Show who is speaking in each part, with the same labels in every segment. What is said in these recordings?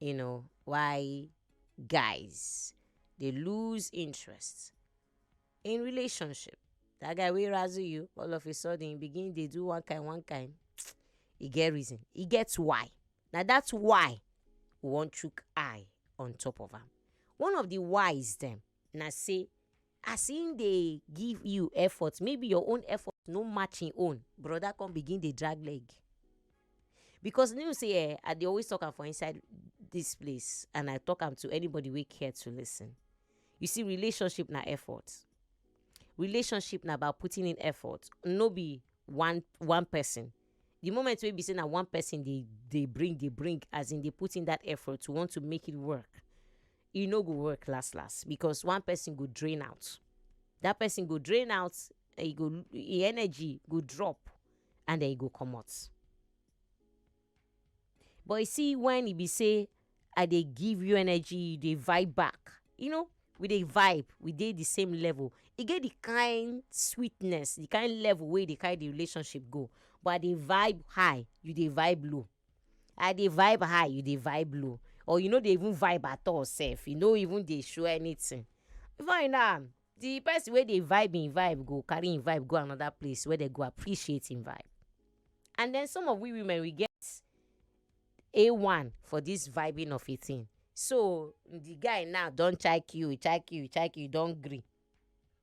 Speaker 1: you know why guys dey lose interest in relationship that guy wey razzle you all of a sudden you begin dey do one kind one kind e get reason e get why na that's why we wan chook eye on top of am one of the whys dem na say as him dey give you effort maybe your own effort no match him own brother come begin dey drag leg because you know say eh i dey always talk am for inside this place and i talk am to anybody wey care to listen you see relationship na effort relationship na about putting in effort no be one one person the moment wey be say na one person dey dey bring dey bring as in dey put in that effort to want to make it work e no go work last last because one person go drain out that person go drain out e go e energy go drop and then e go comot but you see when e be say i dey give you energy you dey vibe back you know we dey vibe we dey the same level e get the kind sweetness the kind level wey e dey carry the relationship go but i dey vibe high you dey vibe low I dey vibe high you dey vibe low or you no dey even vibe at all sef you no even dey show anything before you know am the person wey dey vibe him vibe go carry him vibe go another place wey dey go appreciate him vibe and then some of we women we get a one for this vibing of a thing so the guy now don chike you chike you chike you don gree.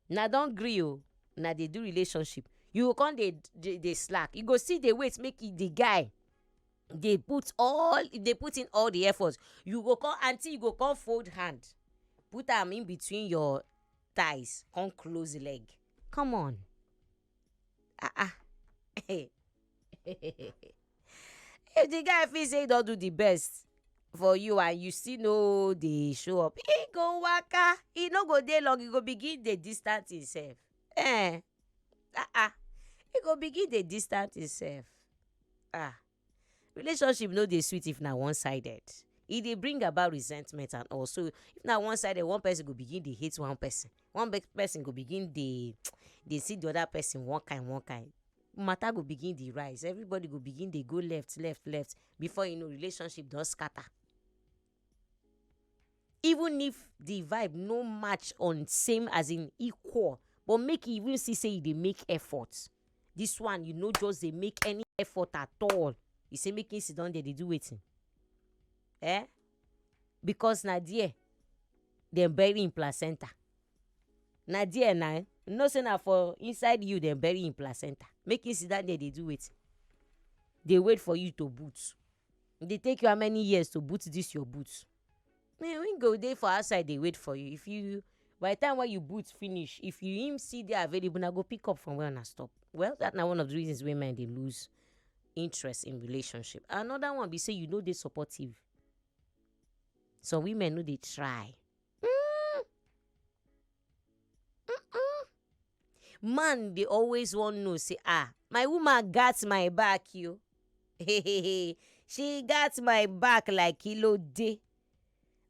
Speaker 1: una don gree o una dey do relationship you go come dey dey slack you go still dey wait make the guy dey put all dey put in all the effort you go come aunty you go come fold hand put am in between your thighs come close leg come on. ah ah if the guy feel say he don do the best for you and you still no dey show up he go waka he no go dey long he go begin dey distant himself eh ah ah he go begin dey distant himself ah Relationship no dey sweet if na one sided. E dey bring about resentment and all so if na one sided one person go begin dey hate one person, one person go begin dey dey see the other person one kind one kind matter go begin dey rise everybody go begin dey go left left left before you know relationship don scatter. even if the vibe no match on same as in equal but make e even see say e dey make effort this one you no just dey make any effort at all you say make him siddon there dey do wetin eh because na there dem bury him placenta na there na you no say na for inside you dem bury him placenta make him siddon there dey do wetin dey wait for you to boot. E dey take you how many years to boot this your boot? Me we go dey for outside dey wait for you if you by the time wey you boot finish if you him still dey available una go pick up from where una stop well that na one of the reasons wey men dey loose interest in relationship. Another one be sey you no dey supportive some women no dey try. Mm. man dey always wan know say ah my woman gat my back yo she gat my back like kilo dey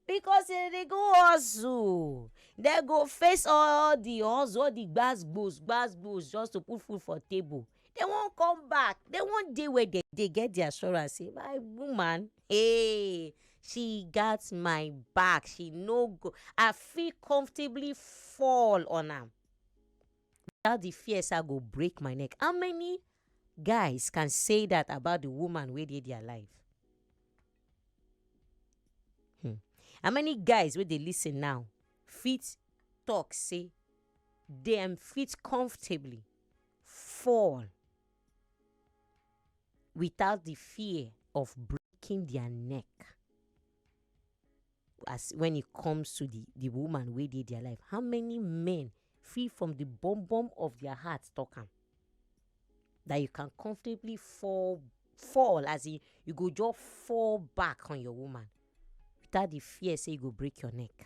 Speaker 1: because dem dey go hustle dem go face all the hustle all the gbas gbos gbas gbos just to put food for table dey wan come back dey wan dey where dem dey get de assurance sey my woman eeh she gat my back she no go I fit comfortably fall on am without de fear sey I go break my neck. How many guys can say dat about de woman wey dey their life um how many guys wey dey lis ten now fit talk sey dem fit comfortably fall without the fear of breaking their neck as when it comes to the the woman wey dey their life how many men fit from the bum bum of their heart talk am that you can comfortably fall fall as in you go just fall back on your woman without the fear say you go break your neck.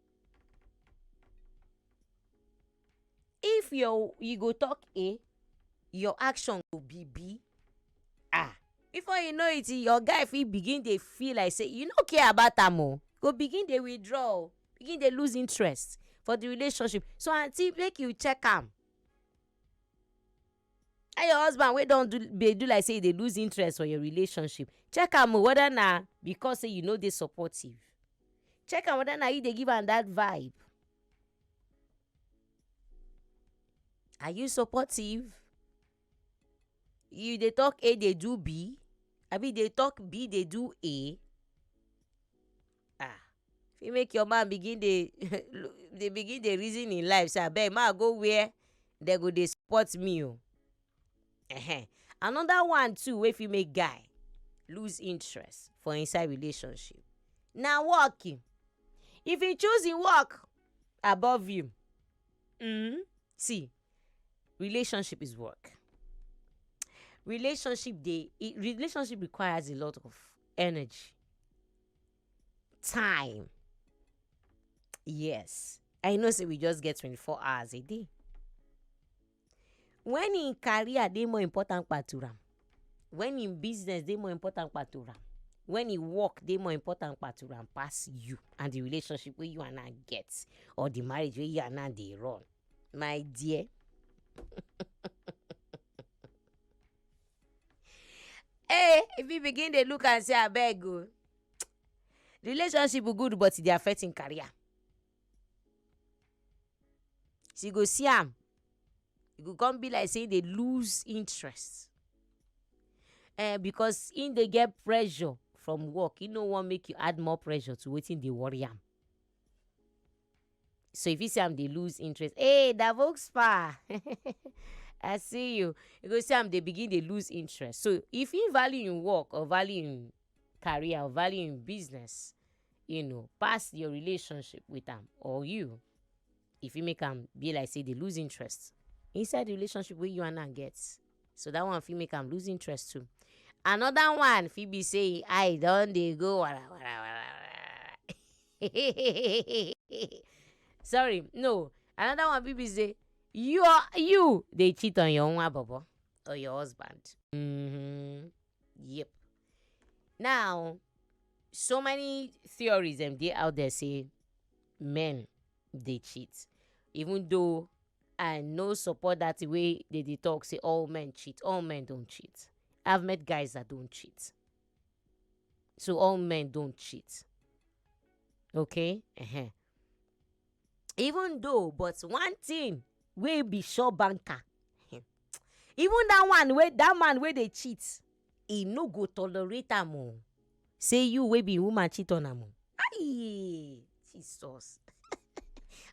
Speaker 1: if your you go talk a your action go be b ah before you know it your guy fit begin dey feel like say you no care about am o go begin dey withdraw o begin dey loose interest for the relationship so aunty make you check am. and your husband wey don do dey do like say e dey lose interest for your relationship check am o whether na because say you no dey supportive check am whether na you dey give am that vibe are you supportive you dey talk a dey do b abi you dey talk b dey do a. um fit make your man begin dey dey begin dey reason im life say abeg make I go where dey go dey support me oo um another one too wey fit make guy loose interest for inside relationship na work um if he choose im work above you um see relationship is work relationship dey relationship requires a lot of energy. time. Yes, I know say we just get 24 hours a day. When in career dey more important part to am, when in business dey more important part to am, when in work dey more important part to am pass you and the relationship wey you and I get or the marriage wey you and I dey run, my dear. Hey, if you begin dey look am say abeg o, relationship good but e dey affect im career. She go see am, e go come be like sey e dey lose interest um because im dey get pressure from work, im no wan make you add more pressure to wetin dey worry am. so you fit see am dey lose interest hey da volkspa i see you you go see am dey begin dey lose interest so if he value im work or value im career or value im business you know pass your relationship with am or you e fit make am be like say dey lose interest inside the relationship wey you and am get. so that one fit make am lose interest too another one fit be say him eye don dey go wara wara wara wara sorry no another one fit be say you you dey cheat on your nwa bobo or your husband mm-hmm. yep now so many theories dem dey out there say men dey cheat even though I no support that thing wey they dey talk say all men cheat. All men don't cheat. I've met guys that don't cheat. So all men don't cheat. Okay? Uh-huh. Even though, but one thing wey be sure banker. even that one wey that man wey dey cheat e no go tolerate am oh say you wey be him woman cheat on am aii Jesus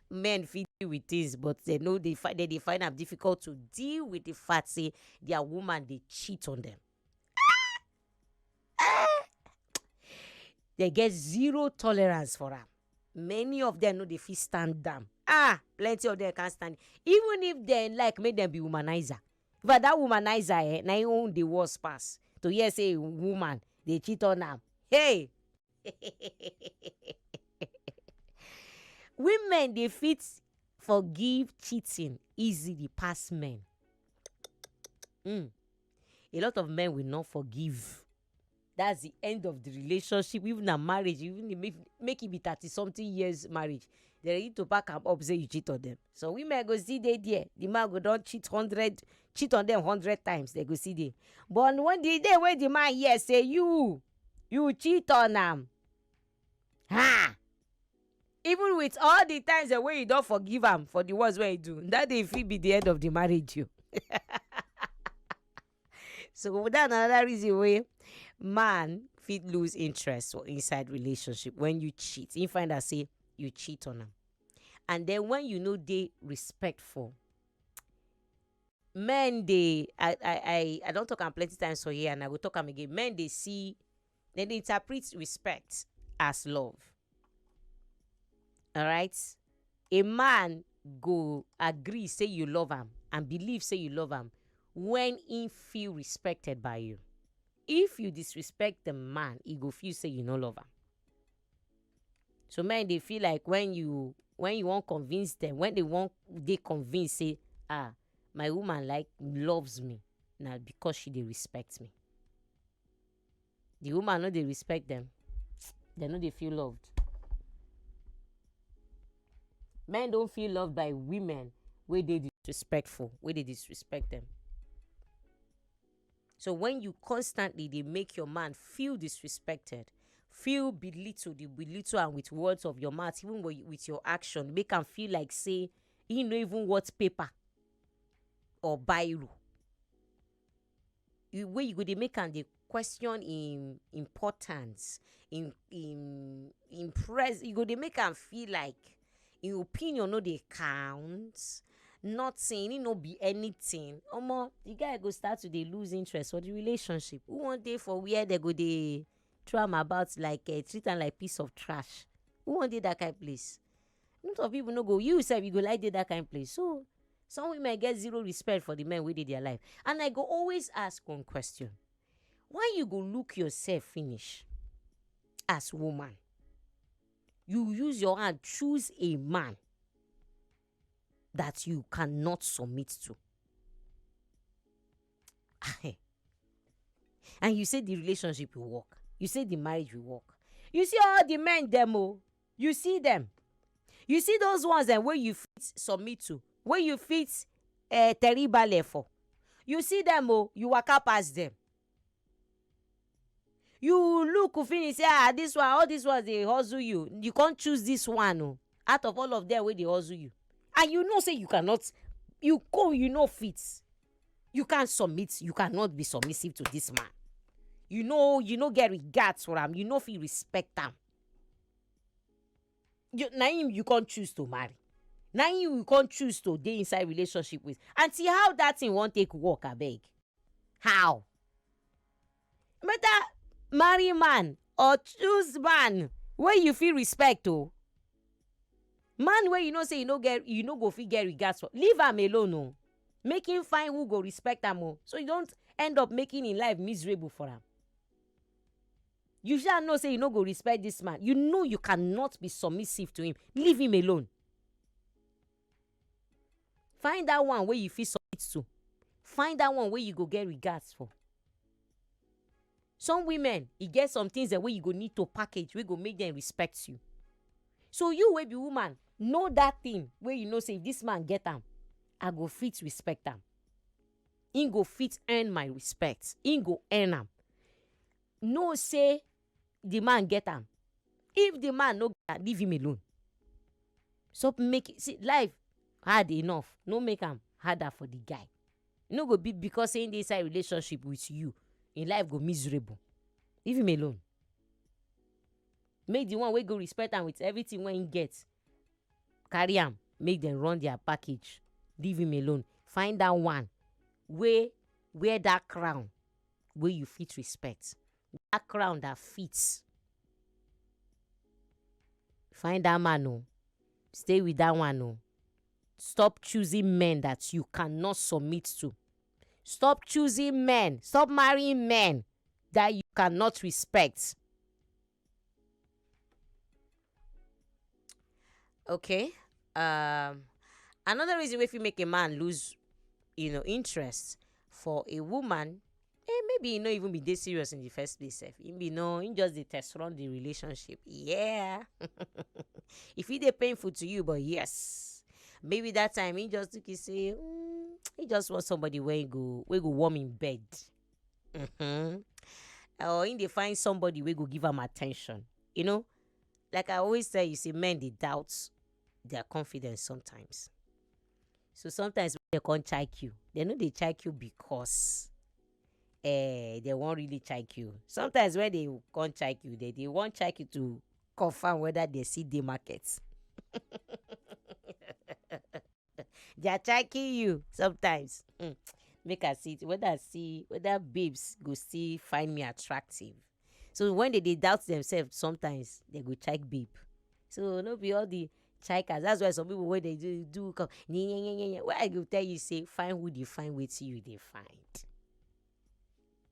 Speaker 1: men fit deal with things but they no dey find they dey find am difficult to deal with the fact say their woman dey cheat on them. they get zero tolerance for am many of them no dey fit stand am ah plenty of them can't stand it even if dem like make dem be womanizer In fact that womanizer eh na him own dey worse pass to hear say a woman dey cheat on am hey women dey fit forgive cheating easily pass men um a lot of men will not forgive. that's the end of the relationship even na marriage even if make, make it be thirty something years marriage they ready to pack am up say you cheat on them so women go see they there the man go don't cheat hundred cheat on them hundred times they go see they but when the day when the man here say you you cheat on them ha even with all the times the way you don't forgive him for the ones where you do that day fit be the end of the marriage you. so that na another reason wey man fit lose interest for inside relationship when you cheat him find out say you cheat on am and then when you no dey respectful men dey i i i i don talk am plenty times for here and i go talk am again men dey see dem dey interpret respect as love alright a man go agree say you love am and believe say you love am when he feel respected by you if you disrespect the man he go feel say you no love am so men dey feel like when you when you wan convince them when they wan dey convince say ah my woman like loves me na because she dey respect me the woman no dey respect them dem no dey feel loved men don feel loved by women wey dey disrespectful wey dey disrespect them so when you constantly dey make your man feel disrespected feel belittled dey belittle am with words of your mouth even wi- with your action make am feel like say he no even worth paper or biro you wey you go dey make am dey question im importance im im im pres you go dey make am feel like im opinion no dey count nothing im no be anything omo the guy go start to dey loose interest for the relationship who wan dey for where dem go dey throw am about like um treat am like piece of trash who wan dey that kind place. a lot of people no go you sef you go like dey that kind place so some women get zero respect for the men wey dey their life and i go always ask one question why you go look yourself finish as woman you use your hand choose a man that you cannot submit to and you say the relationship will work you say the marriage will work you see all the men dem o You see dem? You see those ones dem wey you fit submit to, wey you fit um teribale for? You see dem o, you waka pass dem. You look finish say ah this one, all these ones dey hustle you, you come choose this one o out of all of them wey dey hustle you and you know say you cannot, you come you no fit, you can't submit, you cannot be submissive to this man. You no, you no get regard for am, you no fit respect am. you na him you come choose to marry na him you come choose to dey inside relationship with aunty how that thing wan take work abeg how better marry man or choose man wey you fit respect o oh. man wey you know say you no get you no go fit get regards for leave am alone o oh. make him find who go respect am o oh. so you don't end up making him life miserable for am. You shall know say you no go respect this man. You know you cannot be submissive to him. Leave him alone. Find that one where you feel submit to. Find that one where you go get regards for. Some women, it e get some things that way you go need to package, we go make them respect you. So you will be woman, know that thing where you know say if this man get them, I go fit respect them. He go fit earn my respect. He go earn them. know say the man get am if the man no get am leave him alone stop make see life hard enough no make am harder for the guy e no go be because say him dey inside relationship with you him life go miserable leave him alone make the one wey go respect am with everything wey him get carry am make dem run their package leave him alone find that one wey wear that crown wey you fit respect. That crown that fits. Find that man oh, stay with that one oh. Stop choosing men that you cannot submit to. Stop choosing men, stop marrying men that you cannot respect. okay um another reason wey fit make a man lose you know interest for a woman eh maybe e no even be dey serious in the first place sef e be no he just dey test run the relationship yeah e fit dey painful to you but yes maybe that time he just think he say mm, he just want somebody wey go wey go warm him bed Mm-hmm. Or in dey find somebody wey go give am attention. You know, like I always tell you, say men dey doubt their confidence sometimes. So sometimes when they can't check you, they know they check you because eh, they won't really check you. Sometimes when they can't check you, they, they won't check you to confirm whether they see the market. their child kill you sometimes hmm, make i see whether i see whether babes go still find me attractive so when they dey doubt themselves sometimes they go check babe so no be all the chikers that's why some people wey dey do do come nye nye nye nye nye wey i go tell you say find who dey find wetin you dey find.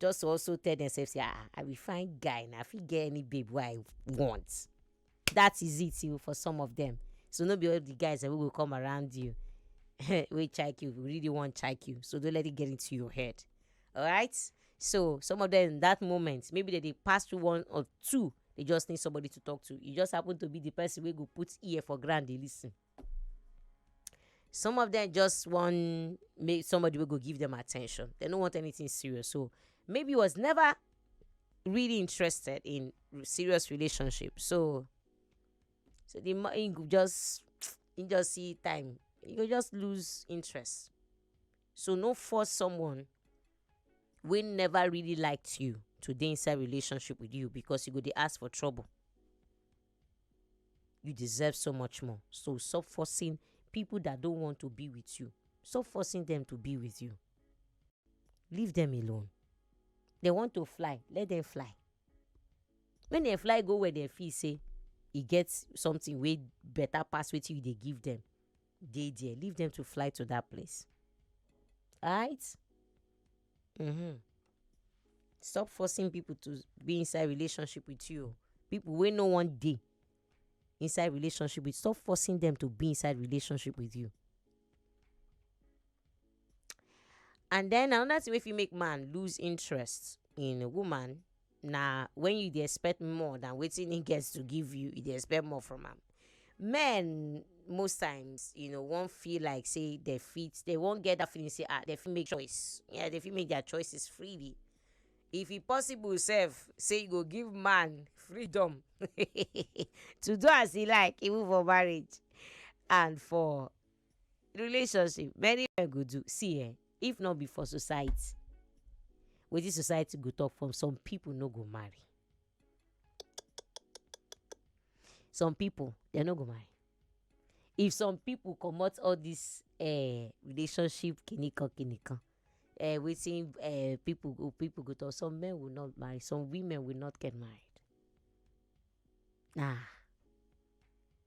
Speaker 1: just to also tell themselves say ah i be fine guy na i fit get any babe wey i want that is it you for some of them so no be all the guys that will come around you we check you we really want check you so don't let it get into your head all right so some of them that moment maybe they, they pass through one or two they just need somebody to talk to you just happen to be the person who go put ear for ground they listen some of them just want make somebody will go give them attention. They don't want anything serious. So maybe was never really interested in serious relationship. So so the money just you just see time. You just lose interest. So no force someone we never really liked you to dey inside relationship with you because you go dey ask for trouble. You deserve so much more. So stop forcing people that don't want to be with you. Stop forcing them to be with you. Leave them alone. They want to fly, let them fly. When they fly go where they feel say e get something wey better pass wetin you dey give them, dey there. Leave them to fly to that place. Alright? Mm-hmm. stop forcing people to be inside relationship with you oh people wey no wan dey inside relationship with stop forcing them to be inside relationship with you and then another thing wey fit make man lose interest in a woman na when you dey expect more than wetin he gets to give you you dey expect more from am men most times you know wan feel like say they fit they wan get that feeling say ah they fit make choice yeah they fit make their choices freely if e possible sef say you go give man freedom to do as e like even for marriage and for relationship many men go do see eh if not be for society wetin society go talk from some people no go marry some people they no go mind if some people comot all this uh, relationship kinikan kinikan uh, wetin uh, people go people go talk some men will not marry some women will not get married nah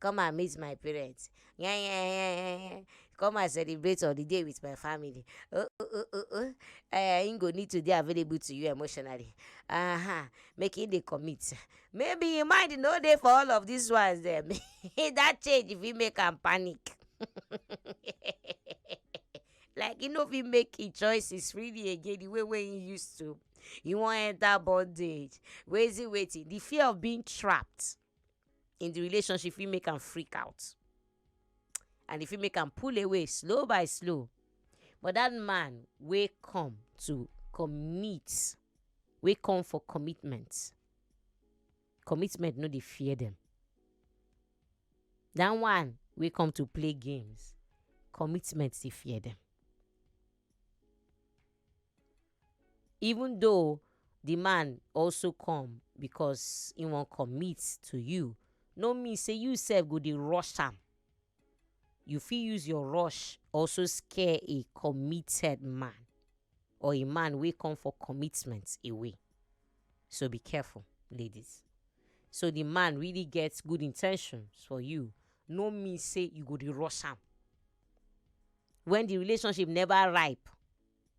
Speaker 1: come and meet my parents come and celebrate holiday with my family oh oh oh oh oh eh im go need to dey available to you emotionally uh-huh. make im dey commit maybe im mind no dey for all of these ones dem that change fit make am panic like e no fit make im choices really again the way wey im used to e wan enter bondage wetin wetin the fear of being trapped in the relationship fit make am freak out and e fit make am pull away slow by slow but that man wey come to commit wey come for commitment commitment no dey fear them that one wey come to play games commitment dey fear them even though the man also come because he wan commit to you no mean say you sef go dey rush am you fit use your rush also scare a committed man or a man wey come for commitment away so be careful ladies so the man really get good intentions for you no mean say you go dey rush am when the relationship never ripe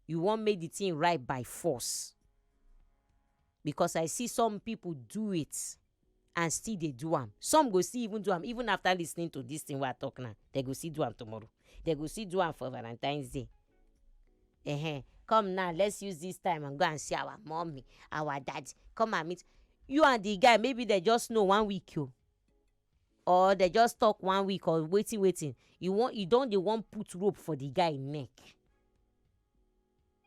Speaker 1: you want make the thing ripe by force because I see some people do it and still they do am some go see even do am even after listening to this thing wey I talk now they go see do am tomorrow they go see do am for Valentine's Day uh-huh. come now let's use this time and go and see our mommy our daddy come and meet you and the guy maybe they just know one week you. or dem just talk one week or wetin wetin e wan e don dey wan put rope for the guy neck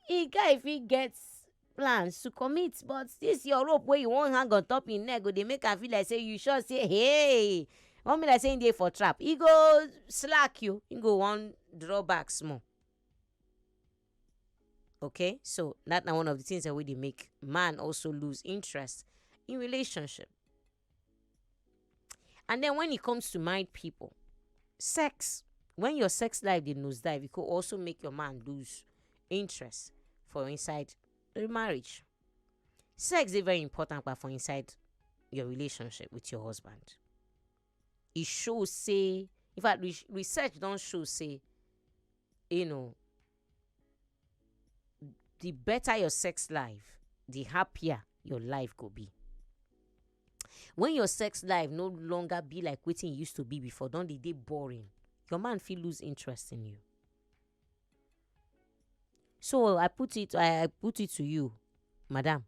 Speaker 1: the guy fit get plans to commit but this your rope wey you wan hang on top him neck go dey make am feel like say you sure say hey wan be like say him dey for trap e go slack you him go wan draw back small okay so that na one of the things wey dey make man also lose interest in relationship. And then when it comes to married people, sex, when your sex life dey nosedive, it could also make your man lose interest for inside the marriage. Sex is very important but for inside your relationship with your husband. It shows say in fact re- research don't show say you know the better your sex life the happier your life go be when your sex life no longer be like wetin e used to be before don dey dey boring your man fit lose interest in you so i put it i I put it to you madam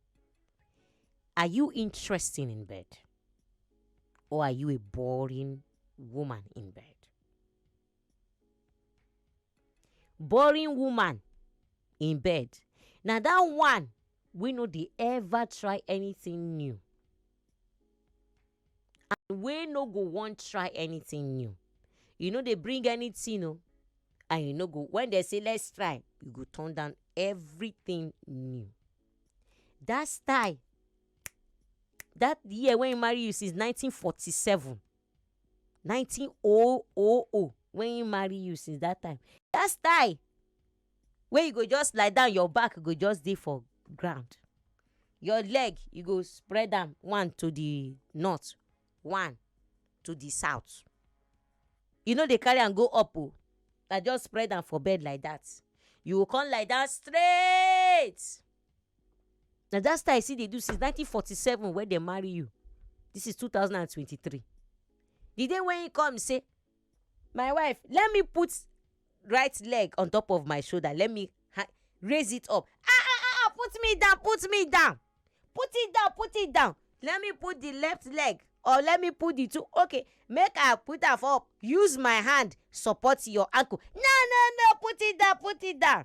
Speaker 1: are you interesting in bed or are you a boring woman in bed Boring woman in bed, na dat one wey no dey ever try anything new and wey no go wan try anything new. E no dey bring anything o and e no go when dem say let's try, e go turn down everything new. Dat style dat year wey e marry you since nineteen forty seven nineteen oh oh oh when he marry you since that time that style wey you go just lie down your back go just dey for ground your leg you go spread am one to the north one to the south you no dey carry am go up oh na just spread am for bed like that you go come lie down straight. Na that style you still dey do since nineteen forty seven when dem marry you this is two thousand and twenty three the day wey he come say my wife let me put right leg on top of my shoulder let me raise it up ah ah ah, ah put me down put me down put it down put it down let me put the left leg or let me put the two okay make i put am for up use my hand support your ankle no no no put it down put it down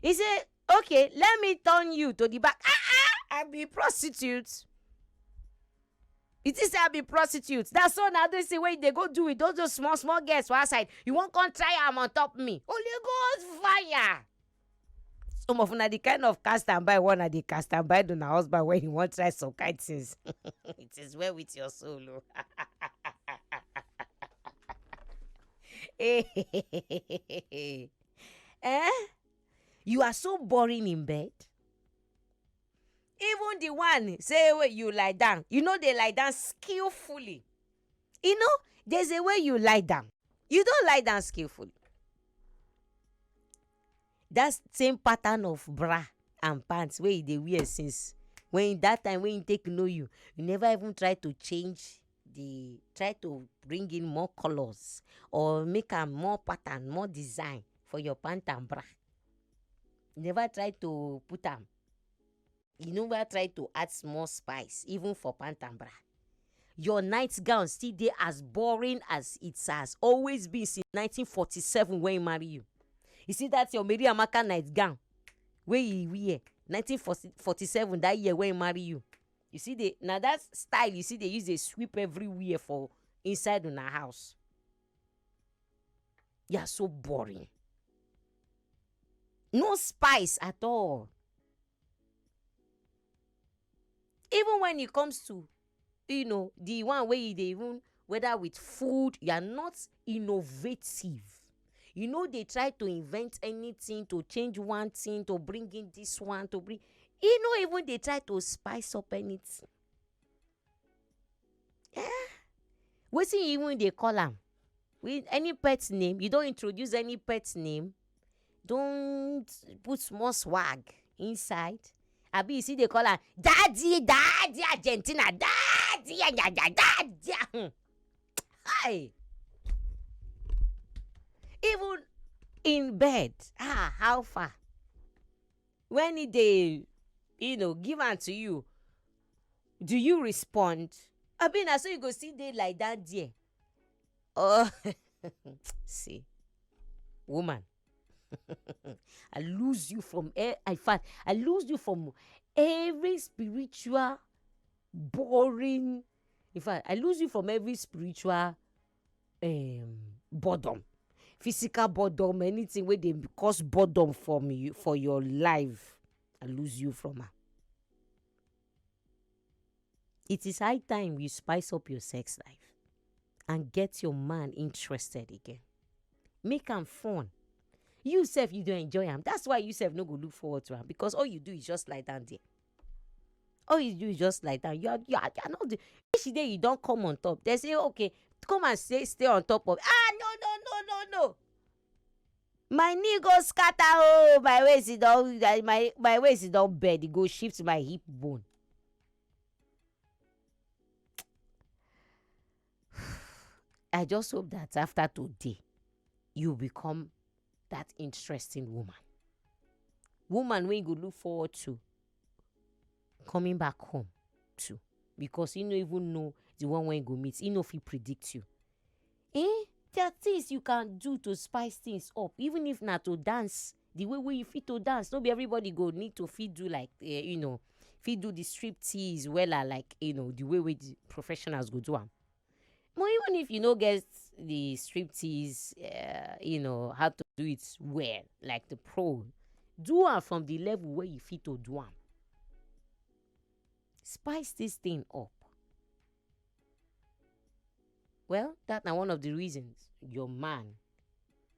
Speaker 1: He say, okay, let me turn you to the back. Ah ah, I be prostitute. You think say I be prostitute? That's so now they say wait they go do with those those small small girls for outside. You won't come try am on top me. Holy Ghost fire. Some of una the kind of cast and buy one at the cast and buy una husband when you want try some kind things. it is well with your soul. oh. Eh? You are so boring in bed. Even the one say wey you lie down, you no dey lie down skillfully. You know, there's a way you lie down. You don't lie down skillfully. That same pattern of bra and pants wey you dey wear since when that time when you take know you, you never even try to change dey try to bring in more colors or make am more pattern more design for your pant and bra you never try to put am you never try to add small spice even for pant and bra your night gown still dey as boring as it has always been since nineteen forty seven wey e marry you you see that your mary amaka night gown wey e wear nineteen forty seven that year wey e marry you. you see the na that style you see they use dey sweep everywhere for inside una house you are so boring no spice at all even when it comes to you know the one wey you dey even whether with food you are not innovative e no dey try to invent anything to change one thing to bring in this one to bring e no even dey try to spice up anything um wetin e even dey call am with any pet name you don introduce any pet name don put small swag inside abi you still dey call am daddy daddy argentina daddy yayaya daddy um Hi! Even in bed, ah, how far? When he dey, you know, give am to you, do you respond? Abi na so you go still dey like that there? Oh, see, woman, I lose you from air. In fact, I lose you from every spiritual boring in fact I lose you from every spiritual um, boredom physical boredom anything wey dey cause boredom for me for your life I lose you from am. It is high time you spice up your sex life and get your man interested again. Make am fun. You sef you dey enjoy am that's why you sef no go look forward to am because all you do is just lie down there. all you do is just lie down you are you are, you are not the if she dey you don come on top they say okay come and stay stay on top of ah no no no no no my knee go scatter oh my waist e don my my waist e don bend e go shift my hip bone i just hope that after today you become that interesting woman. Woman wey you go look forward to coming back home to because you no even know the one wey you go meet. You no fit predict you. Eh? There are things you can do to spice things up, even if na to dance. The way wey you fit to dance, no be everybody go need to fit do like uh, you know, fit do the strip tease wella like you know the way wey the professionals go do am. But even if you no get the striptease, uh, you know, how to do it well, like the pro, do am from the level where you fit to do am. Spice this thing up. Well, that na one of the reasons your man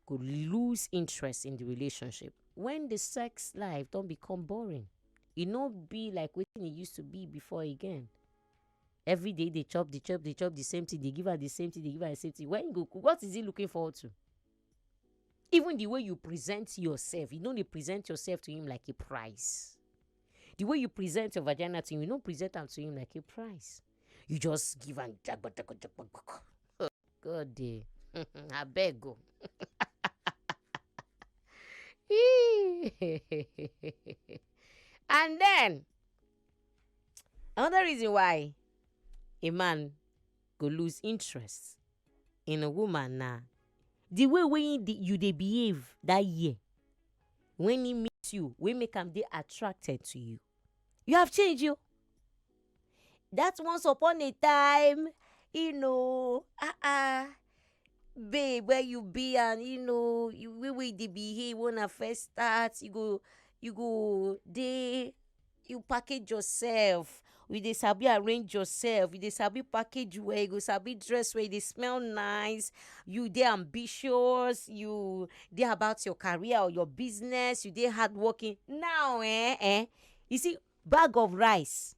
Speaker 1: could lose interest in the relationship when the sex life don't become boring. It no be like what it used to be before again. everyday dey chop dey chop dey chop the same thing dey give am the same thing dey give am the same thing when go what is he looking forward to even the way you present yourself you no dey present yourself to him like a prize the way you present your vagina to him you no present am to him like a prize you just give am jagbadagbadagbadagbada god dey abeg o. and then Another reason why a man go lose interest in a woman na the way wey he dey- you dey behave that year when he meet you wey make am dey attracted to you. You have changed oh that once upon a time you know ah ah babe where you be and you know the way wey you dey behave when una first start you go you go dey You package yourself, you dey sabi arrange yourself, you dey sabi package well, you go sabi dress well, you dey smell nice, you dey ambitious, you dey about your career or your business, you dey hardworking. Now um um you see bag of rice,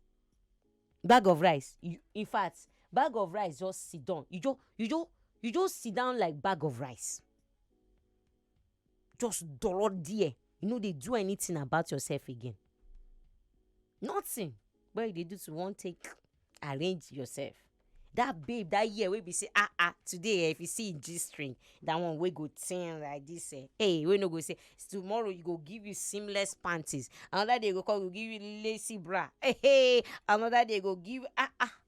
Speaker 1: bag of rice in fact bag of rice just sidan, you just you just you just sidan like bag of rice. just dollar there you no dey do anything about yourself again nothing wey you dey do to wan take arrange yourself that babe that year wey be say ah ah today eh if you see him g string that one wey go tin like this eh hey wey no go say tomorrow you go give you seamless panties another day go come go give you lacy bra hey hey another day go give ah ah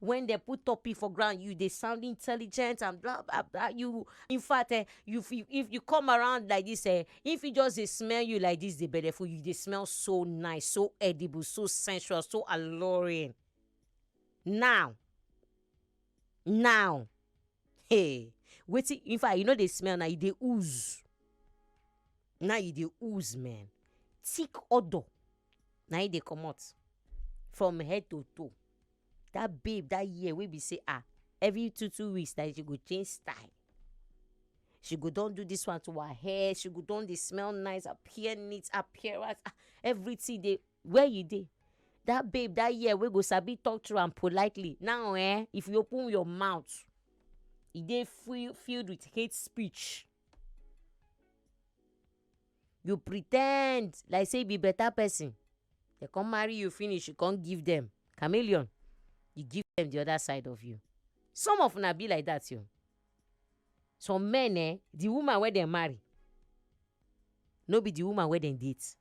Speaker 1: when they put topic for ground you dey sound intelligent and blah blah blah you in fact eh you fit if you come around like this eh if you just dey smell you like this dey belle full you dey smell so nice so edible so sensual so alluring now now hey wetin in fact you no dey smell now you dey ooze now you dey ooze man thick odour na him dey comot from head to toe that babe that year wey be say ah every two two weeks na she go change style she go don do this one to her hair she go don dey smell nice appear neat appearance ah everything dey where you dey that babe that year wey go sabi talk to am politely now eh if you open your mouth e dey full filled with hate speech. you pre ten d like say you be better person dem come marry you finish you come give dem chameleon you give dem the other side of you some of una be like that o some men eh the woman wey dem marry no be the woman wey dem date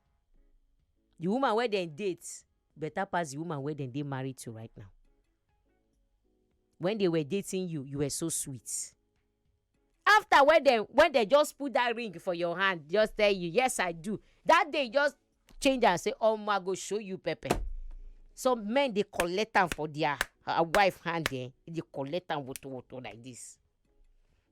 Speaker 1: the woman wey dem date better pass the woman wey dem dey married to right now when they were dating you you were so sweet after when dem when dem just put that ring for your hand just tell you yes i do that day just change am say omo i go show you pepper some men dey collect am for their uh, wife hand eh dey collect am woto woto like this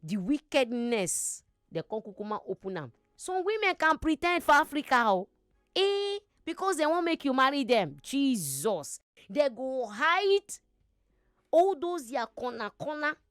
Speaker 1: the wickedness dem come kukuma open am some women can pretend for africa o oh. eh because dem wan make you marry dem jesus dem go hide all those their corner corner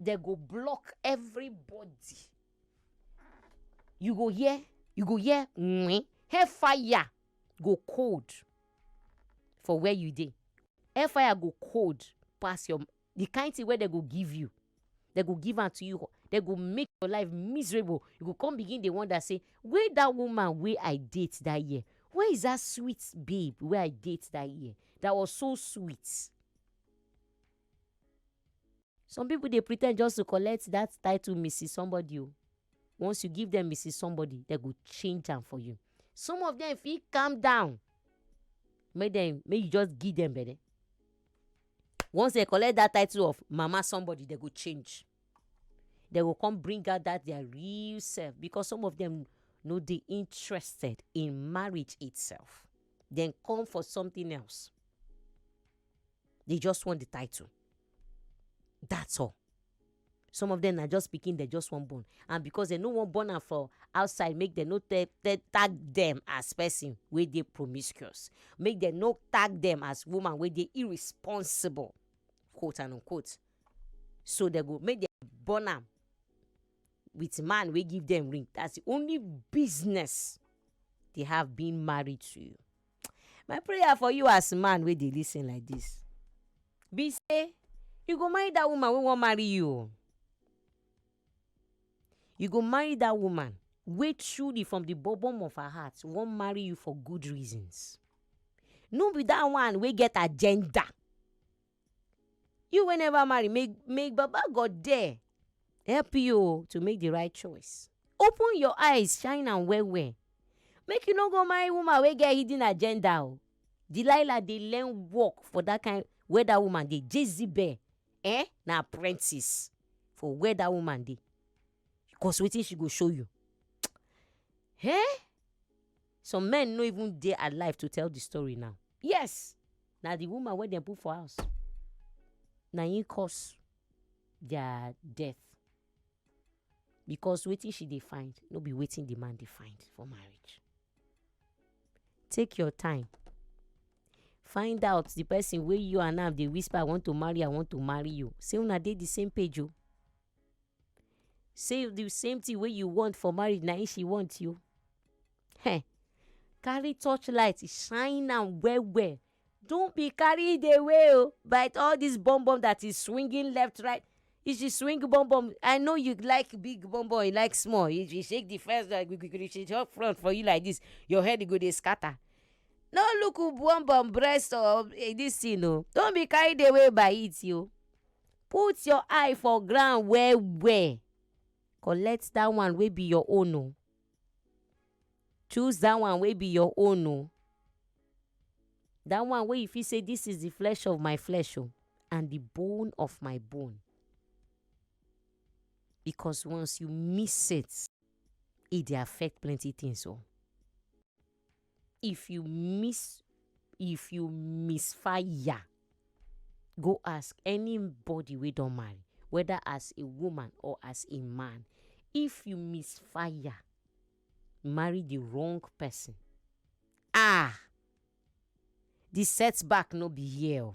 Speaker 1: they go block everybody you go hear you go hear mm, hellfire go cold for where you dey hellfire go cold pass your the kind thing wey they go give you they go give am to you they go make your life miserable you go come begin dey wonder say where that woman wey i date that year where is that sweet babe wey i date that year that was so sweet Some people dey pretend just to collect that title Mrs. Somebody. Oh. Once you give them Mrs. Somebody, they go change them for you. Some of them feel calm down. Make them make you just give them better. Once they collect that title of Mama Somebody, they go change. They will come bring out that their real self because some of them no they interested in marriage itself. Then come for something else. dey just want the title that's all some of them na just pikin dem just wan born and because dem no wan born am for outside make dem no tag dem as person wey dey promiscuous make dem no tag dem as woman wey dey irresponsible quote and unquote so dem go make dem born am with man wey give dem ring that's the only business they have being married to you. My prayer for you as man wey dey lis ten like dis be sey you go marry dat woman wey wan marry you o. You go marry dat woman wey truly from de bottom of her heart wan marry you for good reasons. No be dat one wey get agenda. you wey never marry may may baba God there help you o to make the right choice open your eyes shine am well well make you no go marry woman wey get hidden agenda o Delilah dey learn work for that kind where that woman dey Jezebel eh na apprentice for where that woman dey cause wetin she go show you eh Some men no even dey alive to tell the story now. Yes, na the woman wey dem put for house na im cause their death because wetin she dey find no be wetin the man dey find for marriage. Take your time find out the person wey you and am dey whisper I want to marry I want to marry you sey una dey the same page o. say the same thing wey you want for marriage na him she want you um carry touch light shine am well well don't be carried away o by all this bum bum that is swinging left right if she swing bum bum i know you like big bum bum you like small if she shake the first like gbi she just front for you like this your head go dey scatter no look who bum bum breast or this thing o don't be carried away by it o. put your eye for ground well well collect dat one wey be your own o, choose dat one wey be your own o, dat one wey you fit sey dis is de flesh of my flesh o and de bone of my bone because once you miss set e dey affect plenty things o. if you miss if you miss fire go ask any body wey don marry weda as a woman or as a man if you miss fire marry the wrong person ah the setback no be here o.